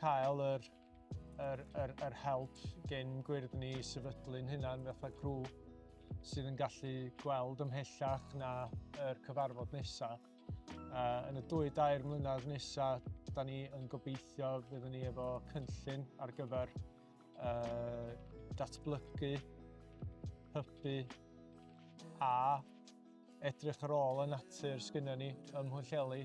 cael yr, yr, yr, yr help gen gwyrdd ni i sefydlu'n hynna'n fatha grŵp sydd yn gallu gweld ymhellach na yr cyfarfod nesaf. Uh, yn y dwy dair mlynedd nesaf, da ni yn gobeithio fyddwn ni efo cynllun ar gyfer uh, datblygu, hybu a edrych ar ôl y natur sgynna ni ym Mhwylleli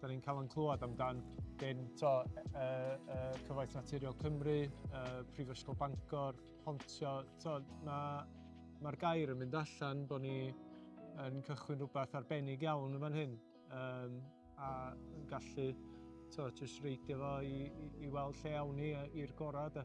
Da ni'n cael yn clywed amdan dyn to, uh, uh, Cyfoeth Naturiol Cymru, uh, Prifysgol Bangor, Pontio. Mae'r ma gair yn mynd allan bod ni yn cychwyn rhywbeth arbennig iawn yn fan hyn. Um, a yn gallu to, just reidio fo i, i, i weld lle awn ni i'r gorau. Da.